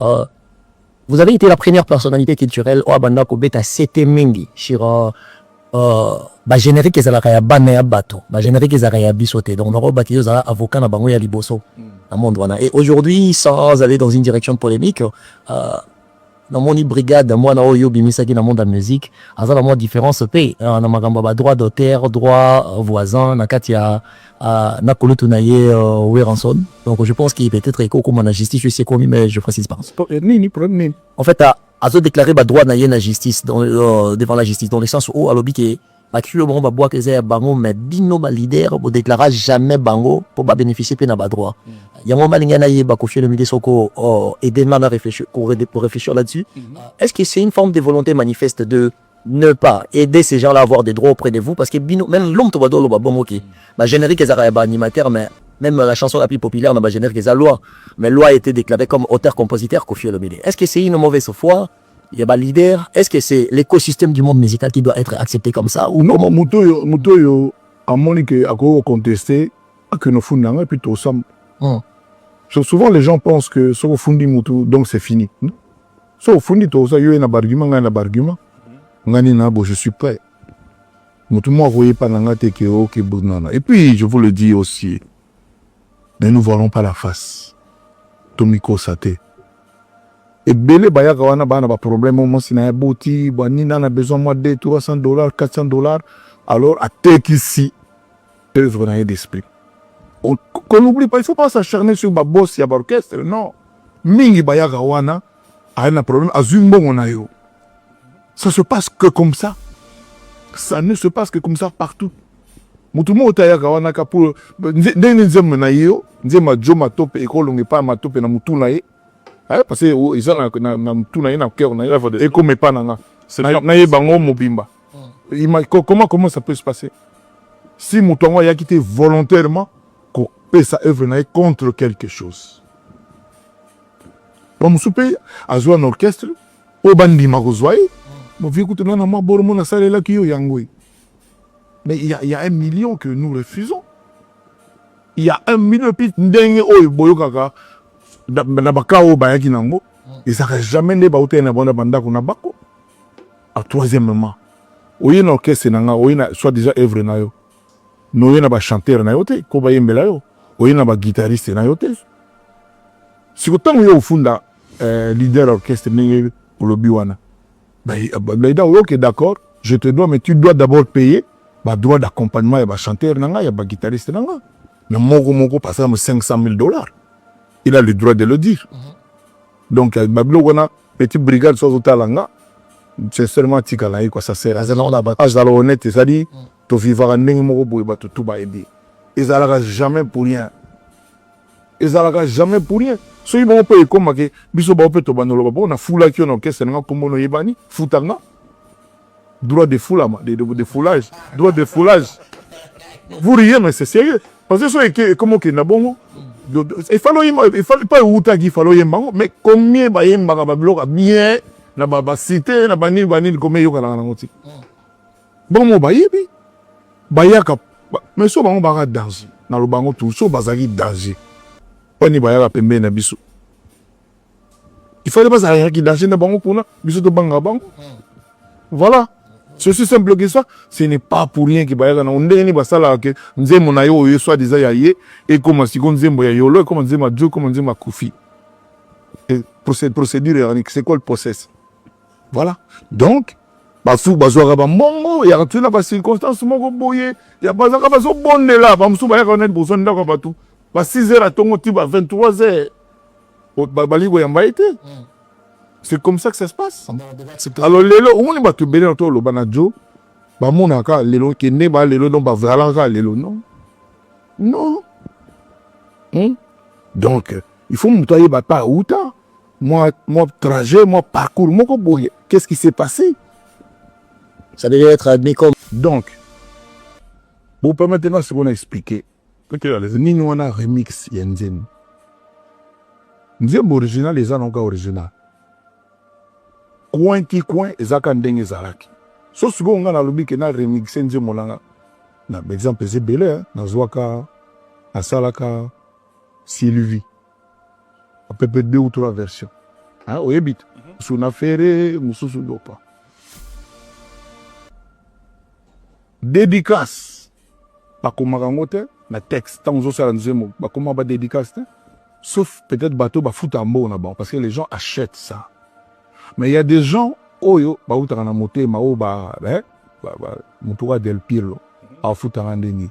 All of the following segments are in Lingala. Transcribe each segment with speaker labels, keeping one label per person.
Speaker 1: Uh, vous avez été la première personnalité culturelle oyo abanda kobeta sete mingi sur uh, uh, bagénérique ezalaka ya bana ya bato bagénérique ezalaka ya biso te donc nako bakeli ozala avocat na bango ya liboso na monde wana et aujourd'hui sans aller dans une direction polémique uh, namoni brigade mwana oyo obimisaki na monde ya musique aza na mwa différence mpe na makambo ya badroit d'auteur droit voisin na kati ya Ah, na kulutu na ye euh, Weranson. Donc je pense qu'il peut être eko comme na justice, je sais combien mais je précise pas. Euh, nini problème nini? En fait, à, à se déclarer ba droit na ye na justice dans, euh, devant la justice dans le sens où alobi que ba kilo bango ba bois que ya bango mais bino ba leader bo déclara jamais bango pour ba bénéficier pe na ba droit. Mm. Yango malinga na ye ba ko fier le milieu soko oh, aider na réfléchir pour, pour réfléchir là-dessus. Mm -hmm. Est-ce que c'est une forme de volonté manifeste de ne pas aider ces gens là avoir des droits auprès de vous parce que bino même l'homme to badolo ba bongo ki ba générique ezaka ya ba animateur mais même la chanson la plus populaire na ba générique eza loi mais loi était déclaré comme auteur compositeur Koffi Olomide est-ce que c'est une mauvaise foi il y a ba leader est-ce que c'est l'écosystème du monde musical qui doit être accepté comme ça ou non moto yo moto
Speaker 2: yo amoni que ako contester que no funda nga puis to sam souvent les gens pensent que soko fundi moto donc c'est fini so ofundi toza yo na bargument ngai na bargument ngai nini nabo je suis prêt motu moko akoyepa na ngai te ke oke oh, bonana et puis je vous le dis aussi ne nous voilons pas la face tomikosa te ebele bayaka wana bana baproblème o mwasi na ye boti banina na besoin mwa 2 300 dollars 400 dollars alors atekisi œuvre na ye d'esprit on qu'on n'oublie pas il faut pas s'acharner sur ba boss ya ba orchestre non mingi bayaka wana aye na problème azwi mbongo na yo ça se passe que comme ça ça ne se passe que comme ça partout motu moko te ayaka wana ka pour ndenge nzembo na ye yo nzembo ya jo matope ekolonga epai ya matope na motu na ye Eh, parce que oh, eza na, na, na mutu na ye na cœur na ye ekoma epa na nga nayeba yango mobimba hmm. comment comment ça peut se passer si moto yango ayaki te volontairement kopesa œuvre na ye contre quelque chose bamosusu mpe azwa na orchestre oyo bandima kozwa ye hmm. bovie kutu na na mwa boro mo nasalelaki yo yango ye Mais il y, a, il y a un million que nous refusons. Il y a un million puis ndenge oyo boyokaka na baka oyo bayaki nango ezalaka jamais nde bautaki na bango na bandako na bako. A troisièmement, oye na orchestre na nga oye na soit déjà œuvre na yo mais oye na bachanteur na yo te mpo bayembela yo oye na baguitariste na yo te siko ntango yo ofunda eh, leader ya orchestre ndenge olobi wana Mais euh, Gaïda, ok, d'accord, je te dois, mais tu dois d'abord payer ba droit d'accompagnement ya ba chanteur na nga, ya ba guitariste na nga. Na moko moko, par exemple, 500 000 dollars. Il a le droit de le dire. Mm -hmm. Donc, euh, ba biloko wana, petit brigade, soit au talanga, c'est seulement tika na ye, quoi, ça sert. Azala on a battu. Azala honnête, c'est-à-dire, mm. to vivara ndenge moko boye, ba tout ba aider. Ezalaka jamais pour rien. ezalaka jamais pour rien soki bango mpe ekoma ke biso bango mpe tobanda loba mpo nafulaki yo na orchestre nanga nkombo no oyebani futa nga droit de fulama de, de, de foulage droit de foulage vous riez mais c'est sérieux parce que soki ekoma okenda bongo efali oyemba efali mpe ewutaki efali oyemba yango mais combien bayembaka babiloko bien na basite na banini banini combien eyokanaka nango ti Bango bayebi bayaka mais so bango baka danger na lobango tu so bazalaki danger wani bayaka pembeni na biso il fallait bazalaki danger na bango kuna biso tobangaka bango voilà ceci simple que ça ce n'est pas pour rien ke bayaka nango ndenge nini basalaka ke nzembo na yo oyo soit disant ya ye ekoma siko nzembo ya yolo ekoma nzembo ya jo ekoma nzembo ya kofi procédure c'est quoi le process Voilà. Donc, basusu bazwaka bambongo ya tuna bacirconstance moko boye ya bazalaka bazobondela bamosusu bayaka wana liboso ndako ya bato ba 6 heures atongo ti ba 23 heures babali koyamba ye te hmm. c'est comme ça que ça se passe alors lelo omoni bato ebele na toloba na jo bamonaka lelo kende ba lelo donc bavalanaka lelo non non hmm? donc il faut moto ayeba pa auta mwa mwa trajet mwa parcours moko boye qu'est ce qui s'est passé
Speaker 1: ça devait être admis comme donc
Speaker 2: vous permettez nga sikoyo na expliquer nini wana remix ya nzembo nzembo original eza na oka original coin ti coin eza ka ndenge ezalaki so sikoyo nga nalobi ke na remixe nzembo nanga na baexemple eza ebele nazwaka nasalaka sylvie à peu près deux ou trois versions hein, oyebi te mhm. mosusu na ferre mosusu lopa dédicace bakomaka yango te na texte ntango ozosala nzembo bakomaka badédicace te sauf peut-être bato bafuta mbongo na bango parce que les gens achètent ça mais il y a des gens oyo bautaka na motema oyo ba, eh, ba, ba, motuka del pirlo mhm. afutaka nde nini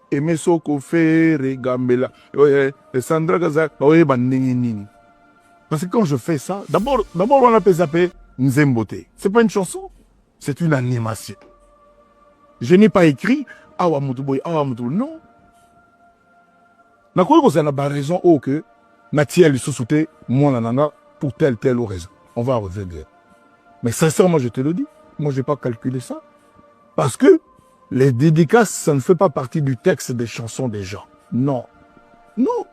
Speaker 2: Aime soko ferre gambela oye eh, Sandra kaza oye bandenge nini parce que quand je fais ça d'abord d'abord wana pesa pe nzembo te c'est pas une chanson c'est une animation je n'ai pas écrit awa mutu boye awa mutu non nakoki kozala na baraison oyo oh, ke natia lisusu te mwana na nga pour telle telle raison on va revenir mais sincèrement je te le dis moi je vais pas calculer ça parce que Les dedicaces, ça ne fait pas partie du texte des chansons des gens. Non. Non.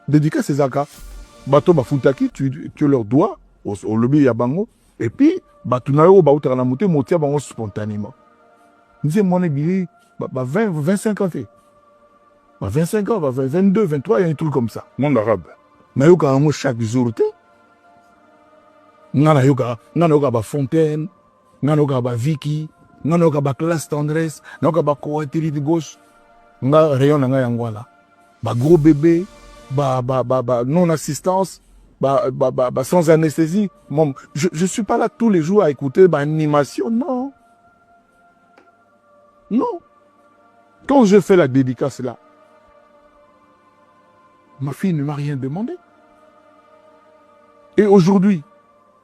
Speaker 2: Dedicace ezaka. Bato bafutaki, tu, tu leur dois, au lobby ya bango. Et puis, bato na yo bautaka na mote motia bango spontanément. Nze mwana bili, ba, ba 20, 25 ans te. Ba 25 ans, ba 22, 23, il y a un truc comme ça. Monde arabe.
Speaker 3: Na yo ka
Speaker 2: chaque jour te. Nga na yo ka, nga na yo ka ba fontaine. nga nayoka ba viki nga nayoka ba classe tendresse nayoka ba coatiride gauche nga rayon na nga yango wana ba gros bebe ba, ba, ba, ba non assistance ba, ba, ba, ba sans anesthésie Mom, je, je suis pas là tous les jours à écouter ba animation non non quand je fais la dédicace là ma fille ne m'a rien demandé et aujourd'hui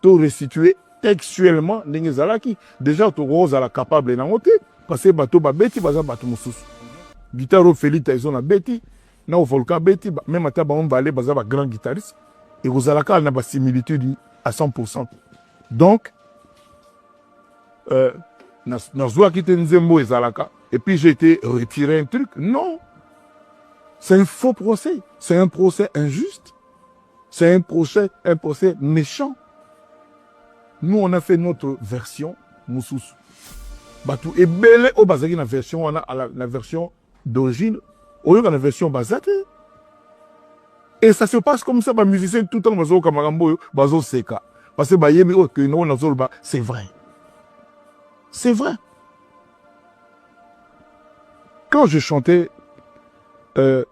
Speaker 2: to restituer textuellement ndenge ezalaki deja tokozala capable nango te parce que bato babeti baza bato mosusu guitare oyo feli taison abeti na oyo volcan abeti meme ata bango mibale baza ba grand guitariste ekozala kaka na basimilitude à 100 pourcent donc euh, nazwaki te nzembo oyo ezalaka et puis j'ai été retiré un truc non c'est un faux procès c'est un procès injuste C'est un procès, un procès méchant. Nous, on a fait notre version mususu. Batu ebele o bazaki na version wana la, la version d'origine, oyoka na version bazate. Et ça se passe comme ça, ba musiciens tout le temps bazo kamarambo yo, bazo seka. Parce que ba yemi o oh, que no na zolba, c'est vrai. C'est vrai. Quand je chantais euh,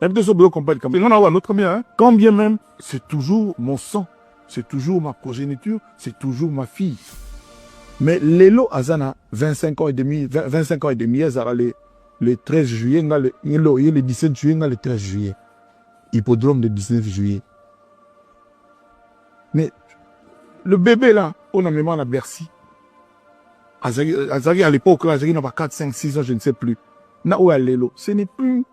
Speaker 2: Nayebi te soki bozo comprendre likambo nga na oyo notre bien hein quand bien même c'est toujours mon sang c'est toujours ma progéniture c'est toujours ma fille mais lelo aza na 25 ans et demi 25 ans et demi azala le le 13 juillet nga le lelo ye le 17 juillet nga le 13 juillet hippodrome de 19 juillet mais le bébé là on a mémoire na Bercy azalaki à l'époque là azalaki na ba 4 5 6 ans je ne sais plus na oyo ya lelo ce n'est plus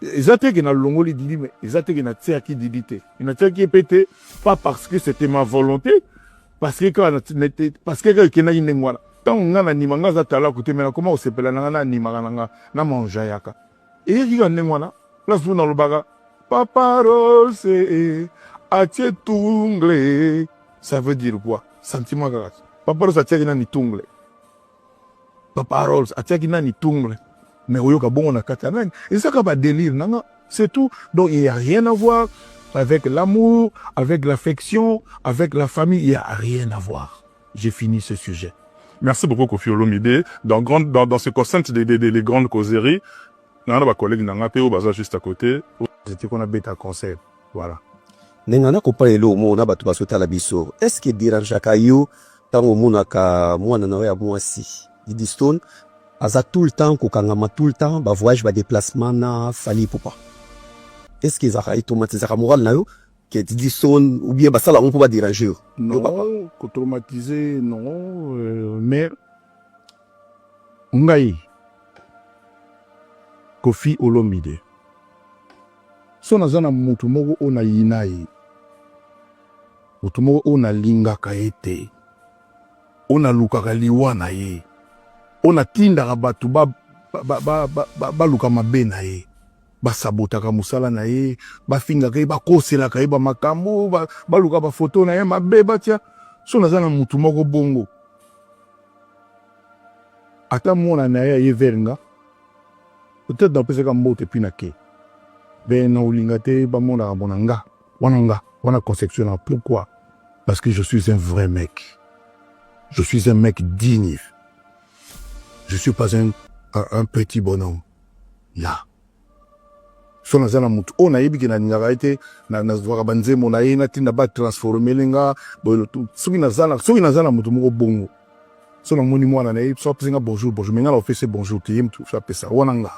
Speaker 2: Eza te que na longoli Didi mais eza te que na tiaki Didi te. Na tiaki ye pe te pas parce que c'était ma volonté parce que kaka parce que kaka ekendaki ndenge wana. Tango nga na nima nga aza talaku te mais na koma ko sepela na nga na animaka na nga na m'enjaillaka. Eyaki kaka ndenge wana place moko na lobaka papa Rose atie tungle ça veut dire quoi? Sentiment kaka papa Rose atiaki nani tungle? Papa Rolls atiaki nani tungle mais oyoka bongo na kati ya nani ezaka ba delire nanga c'est tout donc il y a rien à voir avec l'amour avec l'affection avec la famille il y a rien à voir j'ai fini ce sujet merci beaucoup Kofi
Speaker 3: Olomide dans grande dans, dans ce concert des, des, des, des grandes causeries nanga na ba collègues nanga pe oyo baza juste à côté j'étais qu'on a beta
Speaker 2: concert voilà ndenge na
Speaker 4: kopala eloko moko na bato bazotala biso eske derangeaka yo ntango omonaka mwana na yo ya mwasi Didistone aza tout le temps kokangama tout le temps ba voyage ba déplacement na Fally Ipupa est ce que ezalaka etraumatisaka morale na yo que Didistone ou bien basala yango mpo ba dérange yo non
Speaker 2: kotraumatise non euh, mais ngai kofi olomide so naza na motu moko oyo nayina ye Moto moko oyo nalingaka ye te, oyo nalukaka liwa na ye, oyo natindaka bato baluka mabe na ye, basabotaka mosala na ye, bafingaka ye, bakoselaka ye bamakambo, baluka bafoto na ye mabe batya. So naza na motu moko bongo, ata mwana na ye aye vers nga peut-être napesaka mbote mpi na ke be na olinga te bamonaka mpo na nga wana nga wana conception na pourquoi parce que je suis un vrai mec je suis un mec digne je suis pas un, un, un petit bonhomme là so naza na motu oyo nayebi ke nalingaka ye te nazwaka banzembo na ye natinda batransformele nga boye soki naza na motu moko bongo so namoni mwana na ye so apesi nga bonjour bonjour me nga na ofese bonjour te ye motu so apesa wana nga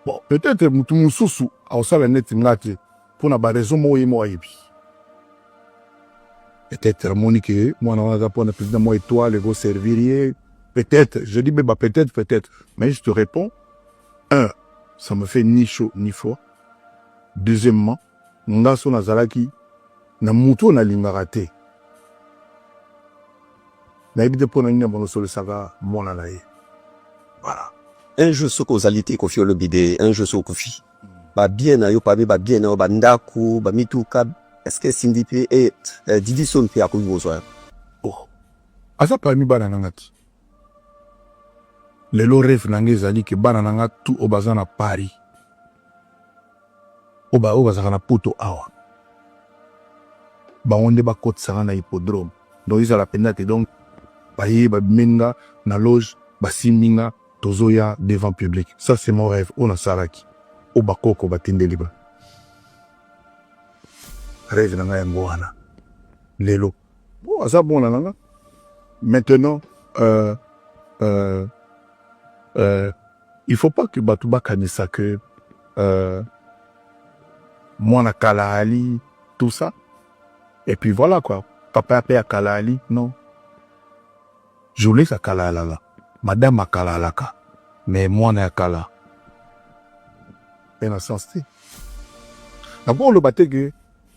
Speaker 2: Bon, peut-être mutu mususu akosala neti nga te mpo na baraison moko ye moko ayebi. Peut-être amoni ke mwana wana aza mpo na président mwa étoile ekoservir ye. Peut-être, je dis beba peut-être, peut-être. Mais je te réponds, un, ça me fait ni chaud ni froid. Deuxièmement, Nga so nazalaki na moto oyo nalingaka te, nayebi te mpo na nini amonosolisaka mwana na ye. Voilà. Un jour
Speaker 4: soki ozali te kofi olobi de un jour soki okufi ba bien na yo parmi ba bien na yo ba ndako ba mituka est-ce que Cindy pe et eh, eh, Didi Son pe akoki kozwa yo? Oh,
Speaker 2: aza parmi bana na nga te. Lelo rêve na nga ezali ke bana na nga tout oyo baza na Paris oyo baoyo bazalaka na poto awa bango nde bakotisa nga na hippodrome donc ezala mpenza te donc baye babimeli nga na loge basimbi nga tozoya devant public ça c'est mon rêve oyo nasalaki oyo bakoko batindeli ba rêve na nga yango wana lelo bon aza bona na nga maintenant euh, euh, euh, Il faut pas que batu bakanisa que euh, mwana kala ali tout ça et puis voilà quoi papa ya pe ya kala ali non jolesa kala alala madame akala alaka mais mwana ya kala pe na sens te nakoloba te ke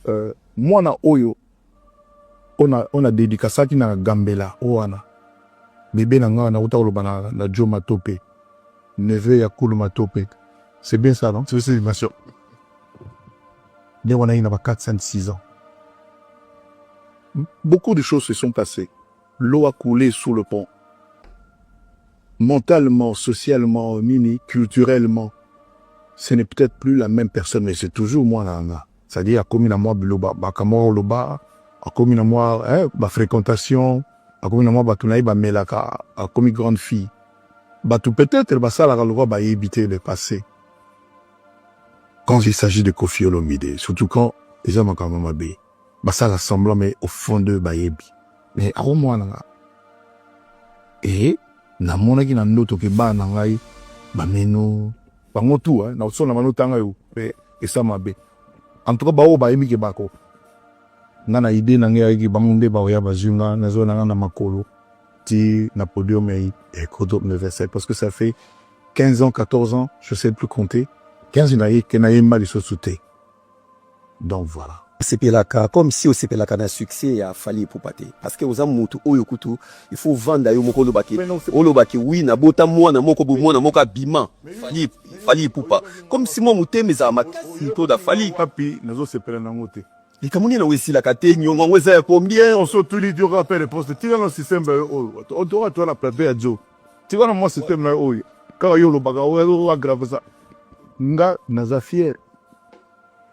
Speaker 2: euh, mwana oyo ona ona dedicasaki na gambela owana bebe na nga na uta koloba na na Joe Matope neveu ya Kulu Matope c'est bien ça non c'est c'est bien sûr nde wana ye na ba 4 5 6 ans beaucoup de choses se sont passées L'eau a coule sous le pont. Mentalement, socialement, nini, culturellement, ce n'est peut-être plus la même personne, mais c'est toujours moi là, là. C'est-à-dire, akomi na moi biloba, bakamoro loba, akomi na moi, eh, ba fréquentation, akomi na moi batu na ye bamelaka, akomi grande fille. Batu peut-être basalaka lokola bayebi te le passé. Quand il s'agit de Kofi Olomide, surtout quand eza makambo mabe. basala semblant mais au fond de bayebi mais ako mwana nga e namonaki na ndoto ke bana na ngai bameno bango tu eh, na osona bano tanga yo mpe esa mabe en tout cas baoyo bayebi ke bako nga na idee na ngai ayaki bango nde baoya bazwi nga nazwa na nga na makolo ti na podium ya ekoto eh, universel parce que ça fait 15 ans 14 ans je sais plus compter 15 na ye ke nayemba lisusu te donc voilà. Sepelaka comme
Speaker 4: si osepelaka na succès ya Fally Ipupa te parce que oza mutu oyo kutu il faut vanda yo moko oloba ke oloba ke oui na bota mwana moko bo mwana moko abima Fally Fally Ipupa comme si moi mutema eza makasi to da Fally papi nazo sepela
Speaker 2: nango te likambo nini yango esilaka
Speaker 4: te nyongo yango eza ya combien on se otuli dioka mpe
Speaker 2: reponse te tika na système bayo oyo otoka toa na plateau ya jo tika na mwa système na yo oyo kaka yo olobaka oyo agrave ça nga naza fier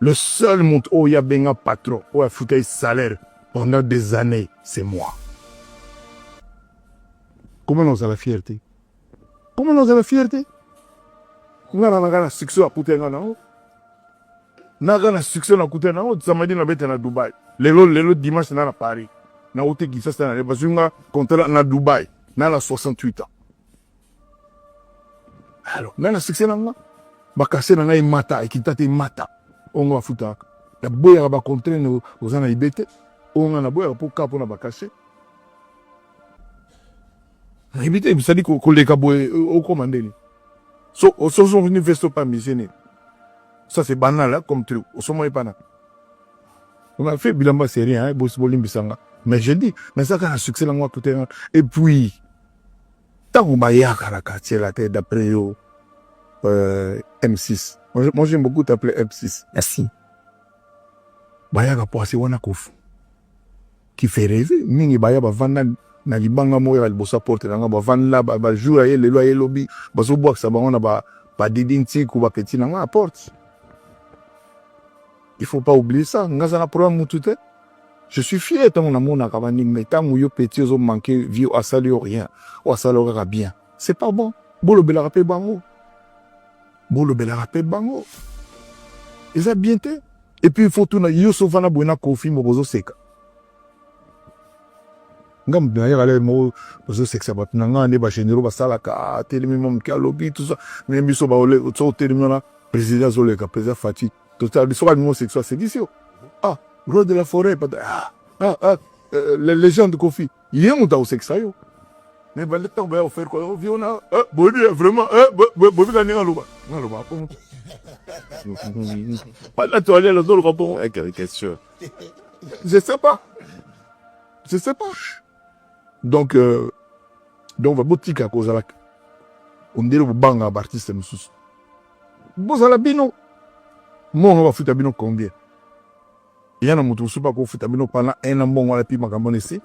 Speaker 2: le seul moto oyo abenga patron oyo afuta ye salaire pendant des années c'est moi comment na ozala fier te comment na ozala fier te nga na nanga na succès akuta nga na yo naka na succès na kuta na oyo samedi na beta na Dubai lelo lelo dimanche na na Paris na ote Kinshasa na leba zunga contrat na Dubai na na 68 ans alors na na succès na nga bakase na ngai mata ekita te mata ongo bafutaka na boyaka ba contrat no oza na ibete onga na boyaka po ka pona bakase nayebi te bisali koleka boye okoma ndeni so ososo université opambisi nini ça c'est banal hein, comme truc osomoi pana on a fait bilamba serie hein, bosi bolimbisa nga mais je dis mais ça kana succès nango akute nga et puis ntango bayaka na quartier la te d'après yo euh, m6 moi j'aime beaucoup t'appeler m6 merci bayaka poasi wana kofu Kiferezi mingi baya bavanda na libanga moko ya liboso ya porte na ngai bavanda bajour aye lelo aye lobi bazobwakisa bango na badidi ntiku bapeti na ngai ya porte il faut pas oublier ça ngai aza na problème mutu te je suis fier ntango namonaka bandimi me ntango yo peti ozomanke vie asali yo rien oyo asali yo kaka bien c'est pas bon bolobelaka mpe bango bolobelaka mpe bango eza bien te epuis ifo tuna yo sofa na boye na kofi moko ozoseka nga moto nayaka lele moko ozosekisa bato na ngai nde bagénéraux basalaka ah, atelemi mwa moke alobi tusa me biso so otelemi wana président azoleka président fati totali soki alingi osekisa asekisi yo ah roi de la forêt ah, ah, ah, euh, légende kofi ye moto akosekisa yo mais banda ntango baya kofaire kwa oh, viona eh, boyebi eh, vraiment eh, boyebi ka ndenge aloba nga aloba bongo banda toalela azoloba bongo question je sais pas je sais pas donc euh, donc babotika kozala ondele bobanga baartiste mosusu bozala bino mongo bafuta bino combien ya na mutu mususu bakofuta bino pendant un an mbongo wana epi makambo wana esi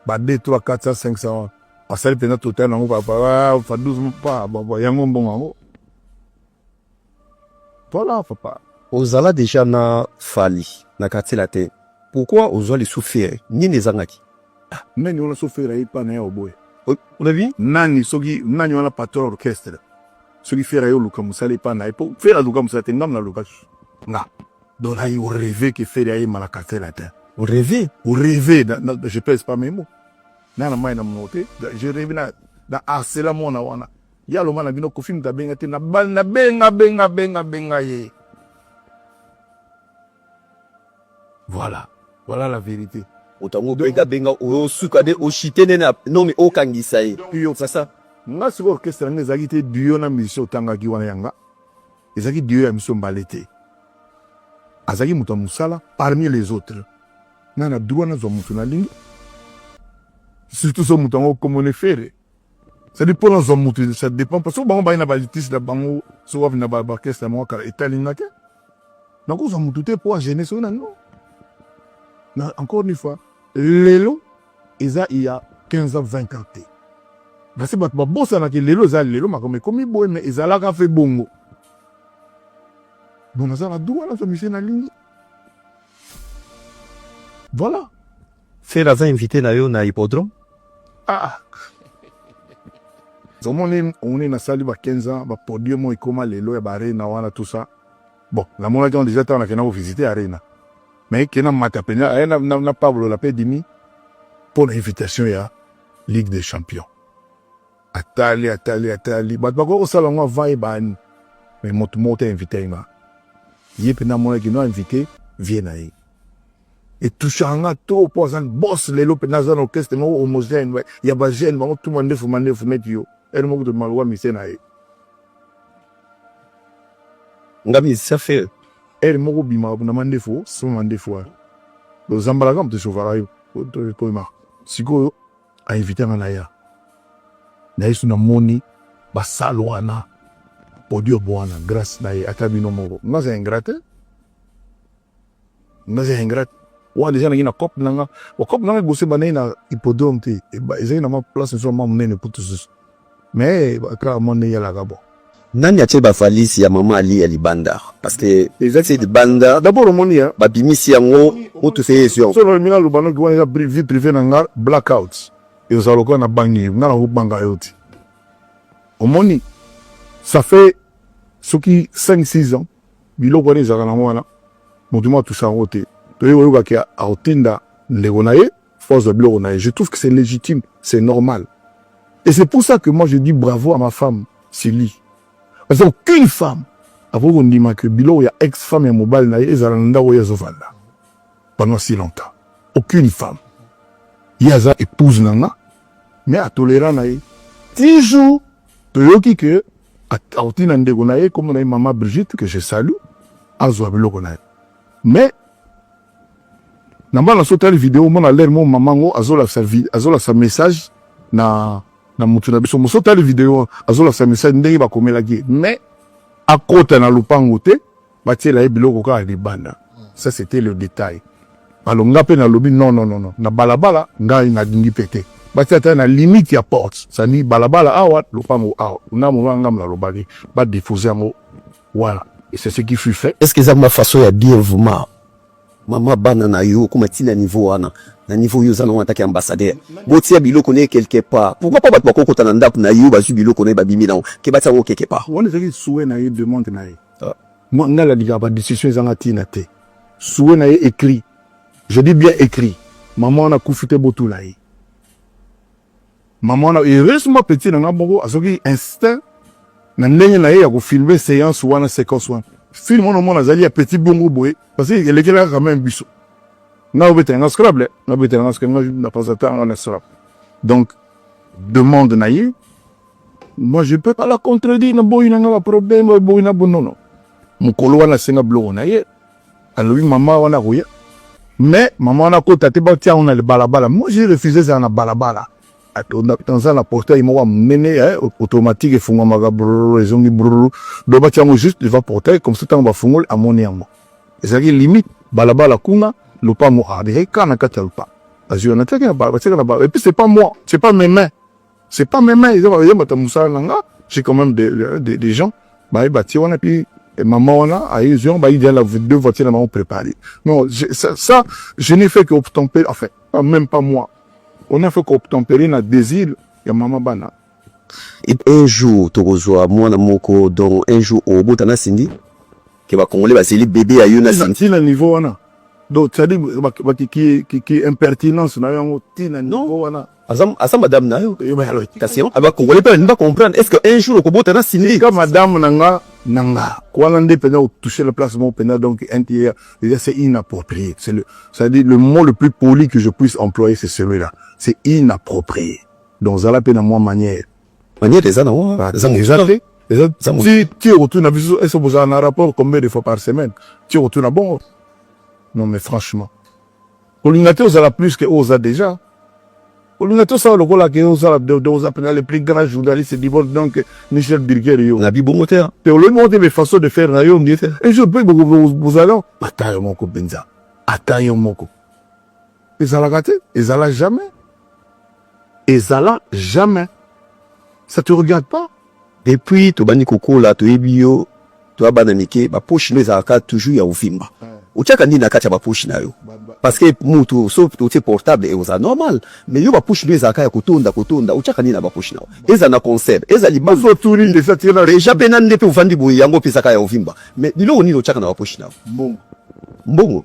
Speaker 2: ba 2 3 400 500 asali mpenza total nango papa fa 12 pa baba yango mbongo yango voilà papa ozala deja
Speaker 4: na fali na quartier latin pourquoi ozwa lisufere nini ezangaki ah, nani wana
Speaker 2: sufere ayi pa na ya oboye olabi
Speaker 4: nani soki nani
Speaker 2: wana patron orchestre soki fere ayi oluka mosala epa na ye po fere aluka mosala te ngam na luka nga Donc là, on rêvait que Ferry aille malakate la terre. On
Speaker 4: rêvait,
Speaker 2: on rêvait, je pèse pas mes mots. Nana mai na monote, je rêvais na na harcela mwana wana. Ya loma na bino kofi muta benga te na bal na benga benga benga benga ye. Voilà, voilà la vérité. Otango benga
Speaker 4: benga o suka de o chite ne na non mais o kangisa ye. Yo c'est ça.
Speaker 2: Nga
Speaker 4: siko orchestre
Speaker 2: nga ezaki te duo na musicien otangaki wana yanga. Ezaki duo ya musicien mbalete. Azalaki moto ya mosala parmi les autres. Nga na droit nazwa moto nalingi, surtout so moto yango kombo ne Ferre. C'est-à-dire mpo nazwa moto ça dépend parce que bango baye na ba litige na bango so wapi na ba orchestre na bango kala etali nga te. Nakozwa moto te mpo agene soki na no. Na encore une fois lelo Eza il ya 15 ans 20 ans te basi bato babosana ke lelo eza lelo makambo ekomi boye me ezalaka fe bongo bon naza na droit nazwa misie nalingi voilà fer
Speaker 4: aza invité na yo na hippodrome
Speaker 2: ah omoni omoni nasali ba 15 ans ba podium oyo ekoma lelo ya barena wana tout ça Bon, namonaki yango deja ntango nakenda kovisite arena me kena mata mpenza aye na pablo la mpe dimi mpo na invitation ya ligue des champions atali atali atali bato bakoki kosala yango avant ye baani me moto moko te invite ye nga ye mpenza amonaki no invite vie na ye etushaka nga trop mpo aza bos lelo mpenza aza na orchestre moko homogène ya bagene bango tuma ndefu mandefu neti yo ene moko to maloba mise na ye
Speaker 4: nga musicien fere ere moko bima
Speaker 2: na mandefu sima mandefu wana ozambalaka moto esovaka yo toyema sikoyo ainvite nga naya na yesu namoni basale wana podium wana grâce na ye ata bino moko naza ingrate naza ingrate wana deja nangi na cope na nga bacope na nga liboso ebandaki na hippodrome te ezalaki na mwa place mosusu mwa monene kutu susu mais kaka mwa ndenge yalaka bon nani atie
Speaker 4: bavalise ya mama ali ya libanda parce que ezati libanda dabord omoni ya
Speaker 2: babimisi yango
Speaker 4: mutu se yesio so lobi na loba noki wana
Speaker 2: eza vie privé na nga blackout ezala lokola na bangi nga na kobanga yo te omoni ça fait soki 5 6 ans biloko wana ezalaka nango wana motu mwa atusa yango te toye koyoka ke akotinda ndeko na ye fo azwa biloko na ye je trouve que c'est légitime c'est normal et c'est pour ça que moi je dis bravo à ma femme Sylvie parce qu'aucune femme akoki kondima ke biloko ya ex femme ya mobali na ye ezala na ndako oyo azovanda pendant si longtemps aucune femme ye aza épouse na nga mais atolera na ye ti jour toyoki ke auti na ndeko na ye kombo na ye mama Brigitte que je salue azwa biloko na ye mais na mbala so tali video omona lere mo mama yango azolakisa azolakisa message na na motu na biso moso tali video azolakisa message ndenge bakomelaki ye mais akota na lopango te batiela ye biloko kaka libanda ça c'était le détail alors nga mpe nalobi non non non na balabala ngai nalingi mpe te batia ata na limite ya porte sani balabala awa lopango awa na mona ngambo nalobaki badefose yango wana et c'est ce qui fut fait est ce que eza ma façon ya
Speaker 4: bien vraiment mama bana na yo okoma ntina niveau wana na niveau oyo oza nango atake ambassadeur botia biloko na ye quelque part pourquoi pas bato bakokota na ndako na yo bazwi biloko na ye babimi nango ke batia yango quelque part wana ezalaki souhait na ye
Speaker 2: demande na ye Ah, moi nga la liga ba discussion ezanga tina te. Souhait na ye écrit. Je dis bien écrit. Maman wana kufi te botula ye. Maman wana heureusement petit na nga moko azoki instinct na ndenge na ye ya ko filmer séance wana séquence wana. Film wana mwana azali ya petit bongo boye parce que elekelaka quand même biso. Nga obetela nga scrabble, nga obetela nga scrabble, nga na pasatanga na scrabble. Donc demande na ye Moi, je peux pas la contredire, na boyi na nga ba problème, ba boyi na bonono. Mukolo wana senga bloko na ye. Alobi mama wana koya. Mais mama wana kota te ba tia on le balabala. Moi, j'ai refusé ça na balabala. Atonda tanza na portail moko munene eh, automatique efungwamaka brrr ezongi brrr. Donc ba tia ngo juste devant portail comme ça tango ba fungoli amoni yango. Ezalaki limite balabala kuna lopango ah, ezalaki kaka na kati ya lopango. Azwi wana tiaki na balabala, tiaki na balabala. Et puis c'est pas moi, c'est pas mes mains. c'est pas même ils ont yamba ta musala nanga j'ai quand même des des, des gens bah bâti on a puis maman on a aïe ils ont bah il y a la deux voitures maman préparée non ça, ça je n'ai fait que obtempérer enfin même pas moi on a fait qu'obtempérer na désir ya maman bana et
Speaker 4: un jour tokozwa mwana moko donc un jour obota na Cindy que ba congolais baseli bébé ya yo na Cindy na niveau wana
Speaker 2: donc c'est-à-dire qui qui qui impertinence na yango tina niveau wana Azam, asa madame na
Speaker 4: yo yo ba yalo kasi yo aba congolais pe ba comprendre est-ce que un jour okobota na Cindy ka madame na nga
Speaker 2: na nga wana nde pena o toucher la place mon pena donc un tiers déjà c'est inapproprié c'est le ça dit le mot le plus poli que je puisse employer c'est celui-là c'est inapproprié donc zala pe na moi manière manière eza na
Speaker 4: moi eza eza pe eza
Speaker 2: eza mo si tu retournes na biso est-ce que vous avez un rapport combien de fois par semaine tu retournes na bon non mais franchement Kolinga te ozala plus que oza deja. Kolinga te osala lokola ke ozala oza pena le plus grand journaliste du monde donc Michel Birger yo. Na bibongo te. Te
Speaker 4: olobi moko te mais façon
Speaker 2: de faire na yo ngi te. Un jour peut bozala ata yo moko penza. Ata yo moko. Ezalaka te, ezala jamais. ezala jamais ça te regarde pas depuis tobandi
Speaker 4: kokola toyebi yo toya bana mike baposhi nde ezalaka toujours ya ovimba otyaka nini na kati ya baposhi na yo parce que mutu so otie portable ekozala normal mais yo baposhi nde ezalaka ya kotonda kotonda otyaka nini na baposhi na yo ezala na concert ezala libanso otuni nde eza tena
Speaker 2: deja mpe nani nde mpe ovandi
Speaker 4: boye yango mpe ezaka ya ovimba mais biloko nini otyaka na baposhi na yo mbongo mbongo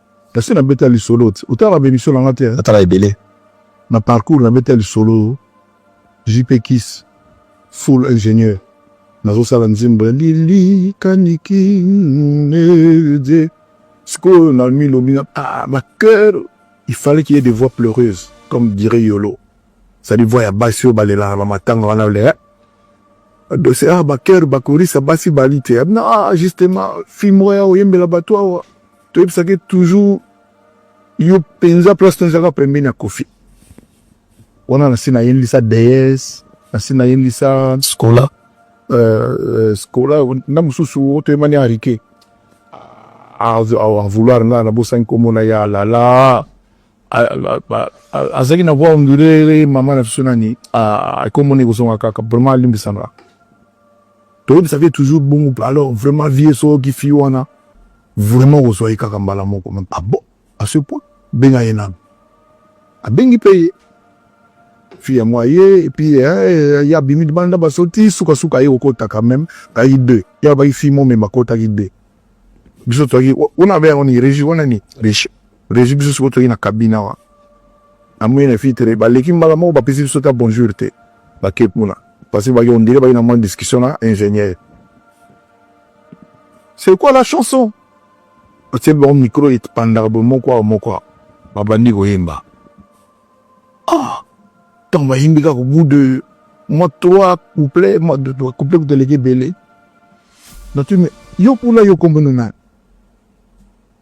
Speaker 2: Kasi na beta lisolo te. Otala ba emission na nga te. Natala ebele.
Speaker 4: Na parcours
Speaker 2: na beta lisolo JP Kiss full ingénieur. Nazo sala nzimbo ya lili kaniki nede. Sikoyo na mi lobi na ah ma cœur il fallait qu'il y ait des voix pleureuses comme dirait Yolo. Ça dit voix ya basi oyo balelaka na matanga wana le dossier ah ba cœur bakorisa basi balite. Non, justement, film oyo oyembela bato awa. toyebisaka ye toujours yo mpenza place to ezalaka pembeni ya kofi wana nasi nayendisa dees nasi nayendisa scola uh,
Speaker 1: euh, euh,
Speaker 2: scola na mosusu otoyemani arike avouloir nga nabosani komona ye alala azalaki na voix ondulere mama na biso nani akomona ekozonga kaka vraiment alimbisanga toyebisaka ye toujours bongo alors vraiment vie soki fi wana Vraiment kozwa ye kaka mbala moko meme. Ah bon, à ce point benga ye nanu. Abengi mpe ye fille ya mwa ye epuis ye abimi libanda na baso ti sukasuka ye kokota quand meme ayaki deux ye alobaki fille momema akotaki deux biso toyaki wana abe yango ni regi wana ni regi regi biso sikoyo toyaki na kabine awa amoni na fille tere baleki mbala moko bapesi biso ta bonjour te bake kuna parce que baki ondire baki na mwa discussion na ingénieur c'est quoi la chanson otie bango micro epandaka boye moko awa moko awa babandi koyemba ah ntango bayembi kaka bout de mwa trois couple mwa de trois couple kuteleki ebele nati me yo kuna yo kombona nani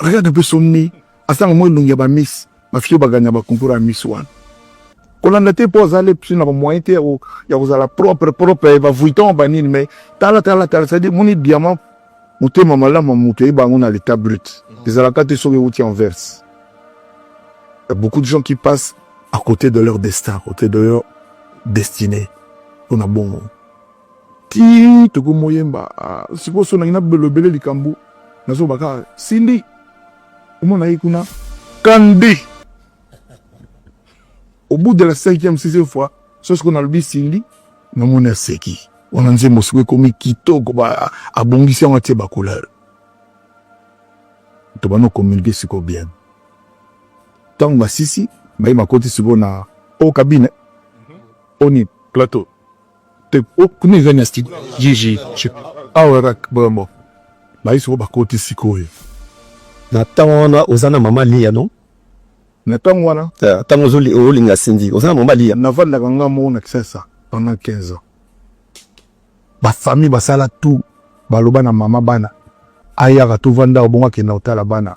Speaker 2: Regarde un peu son nez. Asanga mwa elongi ya ba miss. Ba filles baganya ba concours ya miss wana. Kolanda te po azali psi na ba moyen te ya kozala propre propre ba vuitton ba nini mais tala tala tala c'est dire moni diamant motema malamu moto eyeba yango na l'état brut ezalaka te soki euti en verse. Il y a beaucoup de gens qui passent à côté de leur destin, à côté de leur destinée. On a bon. ti toko moyemba ah, sikoyo so nangi nabelobele likambo nazoba kaka sindi omona ye kuna kande au bout de la cinquième sixième fois so sikoyo nalobi sindi namoni aseki wana nzembo sikoyo ekomi kitoko abongisi yango atie bacouleur to bana communique sikoyo bien ntango basisi baye bakoti sikoyo na o kabine mhm. oni plateau te oh, kuna eza na studio jiji awa rak vraiment bayi soko bakoti sikoyo na
Speaker 4: ntango wana oza na mama liya no na ntango
Speaker 2: wana ntango olinga
Speaker 4: sindi oza na mama liya navandaka nga moko na
Speaker 2: kisasa pendant 15 ans bafamille basala tout baloba na mama bana ayaka tovanda obongo akenda kotala bana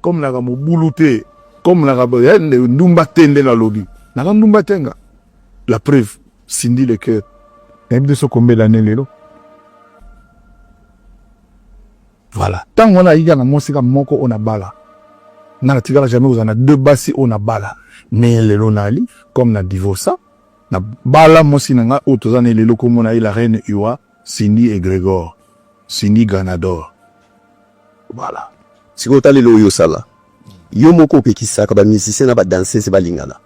Speaker 2: Comme naka mobulu te, comme naka eh, ndumba te nde nalobi. Naka ndumba te nga. La preuve, Cindy le cœur. Nayebi te soko mbela ne lelo. Voilà. Tango wana ayika na mwasi ka moko ona bala. Nga natikala jamais kozala na deux basi ona bala. Mais lelo nali comme na divorce na bala mwasi na nga oyo toza na lelo komona ye la reine Iwa. Cindy egregor Cindy ganador voilà sikoyo tala
Speaker 4: eloko yo osala yo moko opekisaka ba musicien na ba danseuse balingana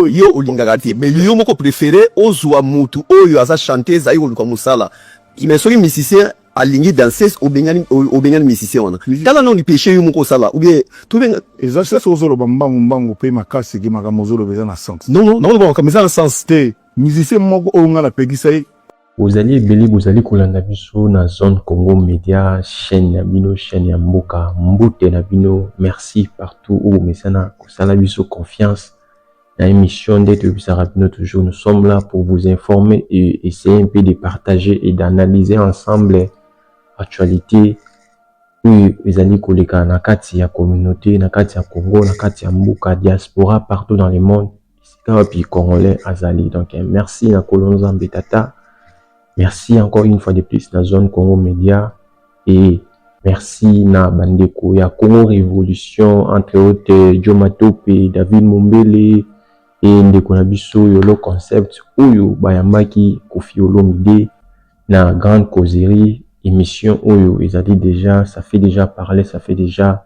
Speaker 4: yo olingaka te mais yo moko préféré ozwa mutu oyo aza chanteuse ayi koluka mosala mais soki musicien alingi danseuse obengani obengani musicien wana tala nao lipeshe yo moko osala oubien tobenga eza sese ozoloba
Speaker 2: mbangu mbangu mpe makasi ke makambo ozoloba eza na sens non non naoloba makambo eza na
Speaker 4: sens te musicien
Speaker 2: moko oyo ngai napekisa ye Bozali ebele
Speaker 5: bozali kolanda biso na zone Congo Media chaîne ya bino chaîne ya mboka mbote na bino merci partout où bomesana kosala biso confiance na émission nde toyebisaka bino toujours nous sommes là pour vous informer et essayer un peu de partager et d'analyser ensemble actualité oyo ezali koleka na kati ya communauté na kati ya Congo na kati ya mboka diaspora partout dans le monde esika wapi congolais azali donc eh, merci na kolo nzambe tata merci encore une fois de plus na zone congo media et merci na bandeko ya congo révolution entre autres jo matope david mombele e ndeko na biso yolo concept oyo bayambaki kofi olomide na grande causerie émission oyo ezali déjà ça fait déjà parler ça fait déjà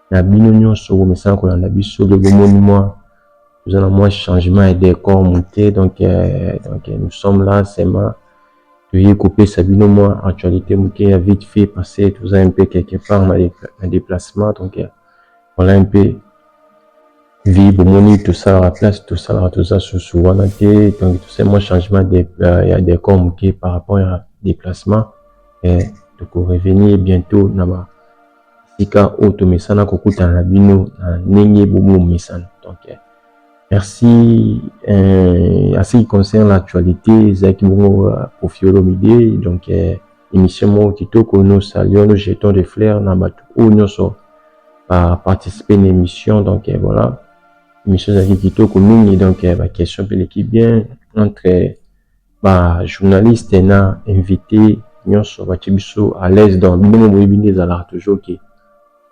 Speaker 5: na bino nyonso bomesana kolanda biso de bomoni mwa toza na mwa changement ya decor moke donc euh, donc euh, nous sommes là seulement toye kopesa bino mwa actualité moke ya vite fait parce que toza un peu quelque part na déplacement donc euh, voilà un peu vie bomoni tosalaka place tosalaka toza susu wana te donc tosali mwa changement de, euh, ya decor moke par rapport ya déplacement eh, tokorevenir bientôt na ba esika oyo tomesana kokutana na bino na ndenge bomi omesana donc eh, merci eh, à ce qui concerne l'actualité ezalaki bongo euh, kofi olomide donc eh, émission moko kitoko nous saluons nous jetons des fleurs na bato oyo nyonso baparticipe na émission donc eh, voilà émission ezalaki kitoko mingi donc eh, baquestion mpe eleki bien entre Ba journaliste na invite nionso batie biso à l'aise donc bino moko boyebi nde ezalaka toujours que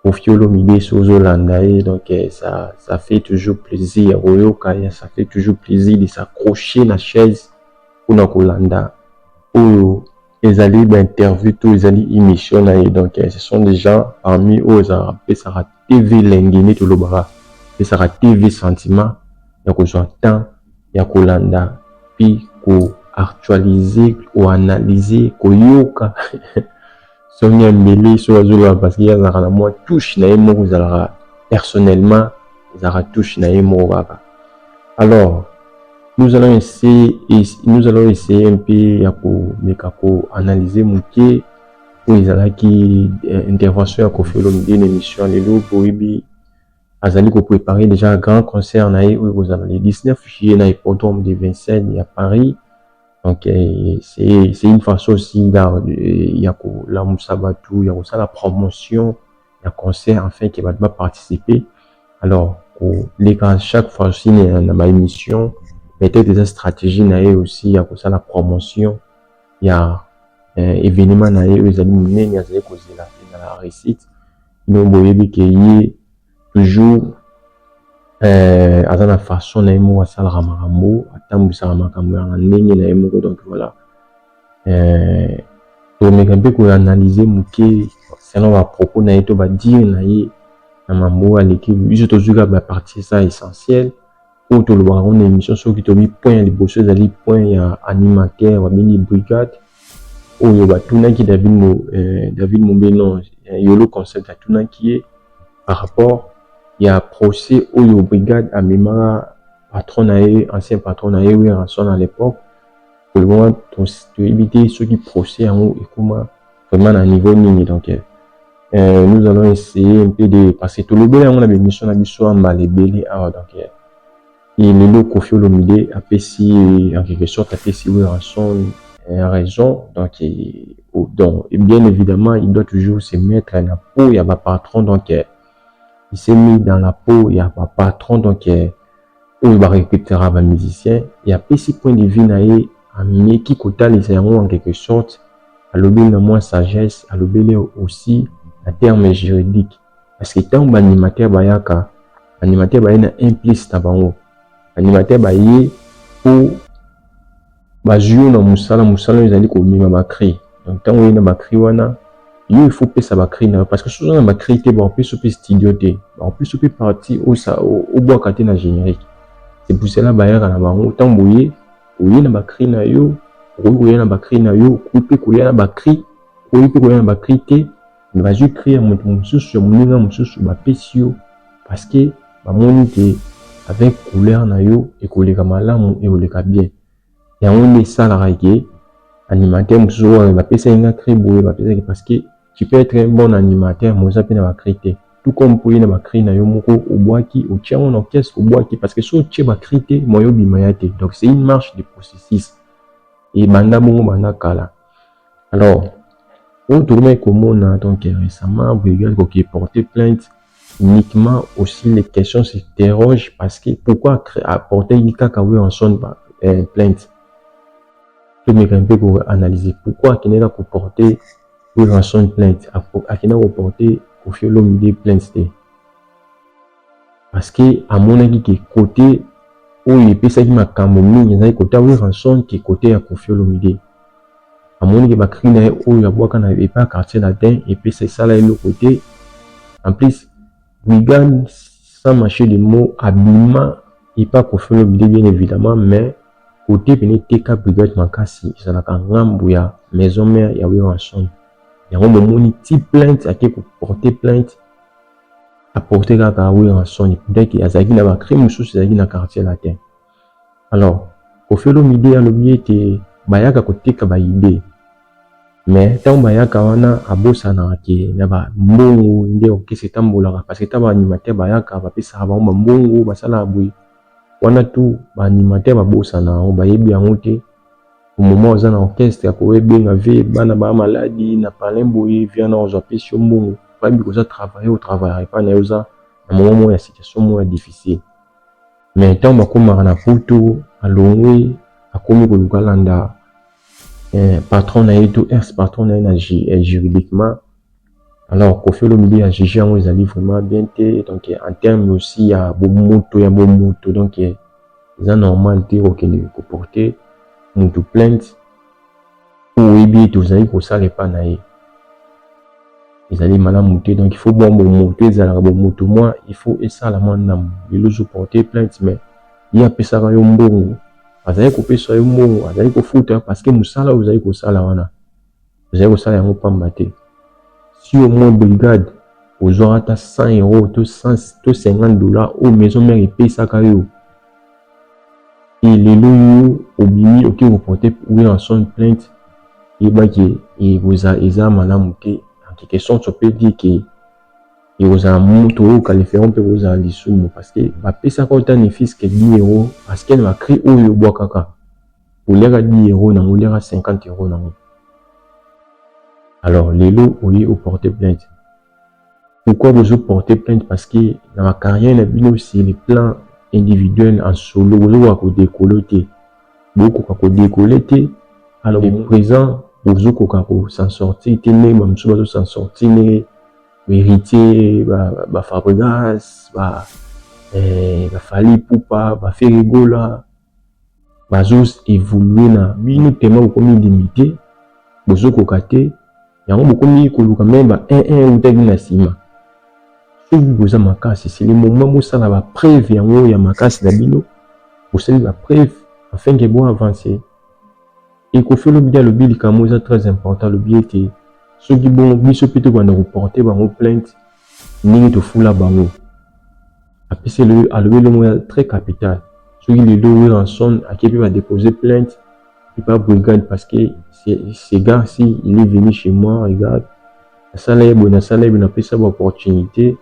Speaker 5: Koffi Olomide soki ozo landa ye donc eh, ça ça fait toujours plaisir ya koyoka ya ça fait toujours plaisir de s'accrocher na chaise pona kolanda oyo Ezali ba interview to ezali emission na ye donc ce sont des gens parmi oyo ezalaka pesaka TV elengi neti olobaka pesaka TV sentiment ya kozwa temps ya kolanda puis ko actualiser ko analyser koyoka son ya mbele soki azoloba parce que azalaka na mwa touche na ye moko ezalaka personnellement ezalaka touche na ye moko kaka Alors, nous allons essayer, nous allons essayer un peu ya komeka ko analyser moke oyo ezalaki eh, intervention ya Koffi Olomide na émission lelo boyebi azali ko préparer déjà grand concert na ye oyo ekozala le 19 juillet na hippodrome de Vincennes ya Paris donc eh, c'est une façon aussi ya kolamusa bato ya kosala promotion ya concert enfin que bato ba participer alors koleka chaque fois aussi na ba émission peut-être eza stratégie na ye aussi ya kosala promotion ya eh, événement na ye oyo ezali monene azali kozela ezala réussite donc boyebi ke ye toujours eh, aza na façon na ye moko asalaka makambo atambwisaka makambo ya ndenge na ye moko donc voilà eh, tomeka mpe koanalyze moke concernant ba propos na ye to ba dire na ye na mambo oyo aleki biso tozwi kaka ba partie eza essentiel oyo tolobaka ngo na émission soki tobi point ya liboso ezali point ya animateur babengi brigade oyo batunaki david, mo, eh, david mombe non eh, yolo concept atunaki ye par rapport ya procès oyo brigade amemaka patron na ye ancien patron na ye werrason à l'époque Vraiment, toyebi te soki procès yango ekoma vraiment na niveau nini donc euh, euh nous allons essayer un peu de parce que tolobela yango na bemission na biso ya mbala ebele awa donc euh, et lelo kofi olomide apesi euh, en quelque sorte apesi werrason euh, raison donc et, oh, donc et bien évidemment il doit toujours se mettre na peau ya bapatron donc euh, il s'est mis dans la peau ya bapatron donc euh, oyo ba recrutera ba musiciens et apesi point de vue na ye ameki kotalisa yango en quelque sorte alobeli na mwa sagesse alobeli aussi na terme juridique parce que ntango ba animateur bayaka ba animateur baye na un plus na bango ba animateur baye mpo bazwi yo na mosala mosala oyo ezali komema bacri donc ntango oyei na bacri wana yo ifo pesa bacri na yo parce que soki oza na bacri te bakopesa mpe studio te bakopesa mpe parti obwaka te na générique c'est pour cela bayaka na bango ntango boye oye na bacri na yo okoki koya na bacri na yo okoki mpe koya na bacri okoki mpe koya na bacri te mais bazwi cri ya moto mosusu ya moninga mosusu bapesi yo parce que bamoni ke avec couleur na yo ekoleka malamu ekoleka bien yango nde esalaka ke animateur mosusu oyo bapesaki nga cri boye bapesaki parce que tu peux être un bon animateur mais oza mpe na bacri te tout comme mpo ye na bacri na yo moko obwaki otia yango na orchestre obwaki parce que so otie bacri te moye obima ya te donc c'est une marche de processus ebanda bongo banda kala Alors, oyo tokomaki komona donc récemment boyebi akoki porter plainte uniquement aussi les questions s'interrogent parce que pourquoi apporter kaka Wilson euh, plainte tomeka mpe koanalyse pourquoi akendaka koporte Wilson plainte akenda koporte Koffi Olomide plainte te parce que amonaki ke kote oyo epesaki makambo mingi ezalaki kote ya Werrason ke kote ya Koffi Olomide. Amoni ke ba cris na ye oyo abwaka na epai ya quartier latin epesa esala ye eloko te. En plus, Wigan sans mâcher de mots abima epai ya Koffi Olomide bien evidemment mais kote pene eteka Brigade makasi ezalaka ngambo ya maison mère ya Werrason. Yango bomoni ti plainte ake ko porter plainte apporte kaka werrason peut-être que azalaki na bacri mosusu ezalaki na quartier latin alors kofi olomide alobi ete bayaka koteka baide mais ntango bayaka wana abosanaka ke na bambongo nde orkestre etambolaka parce que ta baanimateur bayaka bapesaka bango bambongo basalaka boye wana tu baanimateur babosana yango bayebi yango te au moment oza na orchestre ya kowe benga vie bana ba maladi na palin boye vie wana ozwa pesi yo mbongo oyebi koza travaille au travaille epai na yo oza na moment moko ya situation moko ya difficile mais ntango bakomaka na poto alongwe akomi koluka landa eh, patron na ye to ex patron na ye na eh, juridiquement Alors Koffi Olomide a juge yango ezali vraiment bien te donc en terme aussi ya bomoto ya bomoto donc eza normal te kokende koporte moto plainte oyo oyebi ete ozali kosala epa na ye ezali malamu te donc il faut bwa bomoto ezalaka bomoto mwa il faut esala mwa ndambo lelo ozoporte plainte mais ye apesaka yo mbongo azali kopesa yo mbongo azali kofuta parce que mosala oyo ozali kosala wana Ozali kosala yango pamba te. Si au moins brigade ozwaka ata 100 euro to 100 to 50 dollars oyo maison mère epesaka yo e lelo yo obimi oke koporte Wilson plainte yeba ke ekoza eza malamu te en quelque sorte on peut dire ke ekozala moto oyo kalifero mpe kozala lisumu parce que bapesaka yo ata ne fils que 10 euro parce que na bacri oyo obwakaka oliaka 10 euro nango oliaka 50 euro nango alors lelo oye o porte plainte pourquoi bozo porte plainte parce que na ba carrière na bino sur le plan individuel en solo bozokoka kodekole te bokoka kodekole te alors le présent bozokoka ko s'en sortir te ndenge bamosusu bazo s'en sortir ndenge héritier ba fabrigas ba eh, bafali pupa baferigola bazo evoluer na bino tellement bokomi limite bozo koka te yango bokomi koluka meme ba un un euta bino na sima soki boza makasi c'est le moment bosala ba preuve yango ya makasi na bino bosali ba preuve afin que bo avancer ekofi olomide alobi likambo eza très important alobi ete soki bongo biso mpe tokobanda koporte bango plainte ndenge tofula bango apesi alobi elongo ya très capital soki lelo Williamson akebi ba depose plainte epa brigade parce que ce gars si il est venu chez moi regarde nasala ye boye nasala ye boye napesa ba opportunité